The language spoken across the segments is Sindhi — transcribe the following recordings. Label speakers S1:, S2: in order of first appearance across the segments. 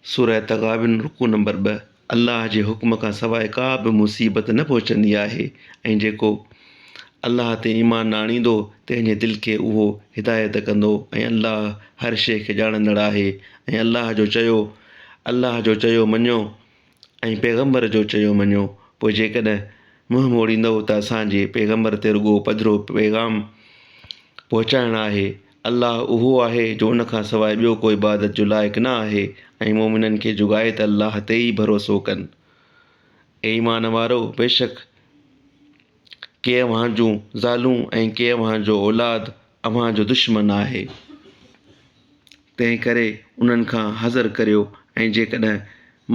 S1: سورة تغابن رڪوع نمبر ٻه، الله جي حڪم کان سواء ڪا به مصيبت نه پهچندي آهي ۽ جيڪو الله تي ايمان نه آڻيندو تنهن جي دل کي اهو هدايت ڪندو ۽ الله هر شيء کي ڄاڻندڙ آهي ۽ الله جو چيو الله جو چيو مڃو ۽ پيغمبر جو چيو مڃو، پوء جيڪڏهن منهن موڙيندؤ ته اسان جي پيغمبر تي رڳو پڌرو پيغام پهچائڻ آهي. الله اهو آهي جو ان کان سواء ٻيو ڪو عبادت جو لائق نه آهي ۽ مؤمنن کي جوڳائي ته الله تي ئي ڀروسو ڪن. اي ايمان وارؤ! بيشڪ ڪي اوهان جون زالون ۽ ڪي اوهان جو اولاد اوهان جو دشمن آهي. تنهن ڪري انهن کان حذر ڪريو ۽ جيڪڏهن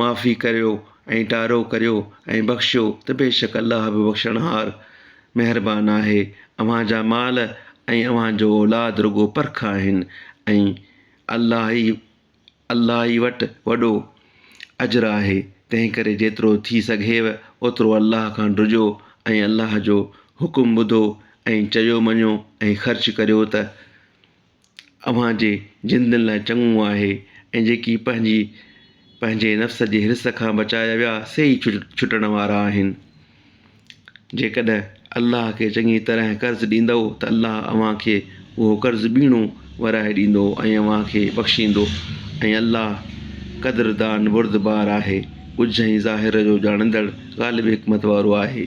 S1: معافي ڪريو ۽ ٽارو ڪريو ۽ بخشيو ته بيشڪ الله به بخشڻهار، مهربان آهي. اوهان جا مال ۽ اوهان جو اولاد رڳو پرک آهن ۽ الله ئي الله ئي وٽ وڏو اجر آهي، تنهن ڪري جيترو ٿي سگهيو اوترو الله کان ڊڄو ۽ الله جو حڪم ٻڌو ۽ چيو مڃو ۽ خرچ ڪريو ته. اوهان جي جندن لاء چڱو آهي ۽ جيڪي پنهنجي پنهنجي نفس جي حرص کان بچايا ويا سي ئي ڇٽڻ وارا آهن. جيڪڏهن الله کي چڱي طرح قرض ڏيندؤ ته الله اوهان کي اهو قرض ٻيڻو ورائي ڏيندو ۽ اوهان کي بخشيندو ۽ الله قدردان بردبار آهي، ڳجهه ۽ ظاهر جو ڄاڻندڙ غالب حڪمت وارو آهي.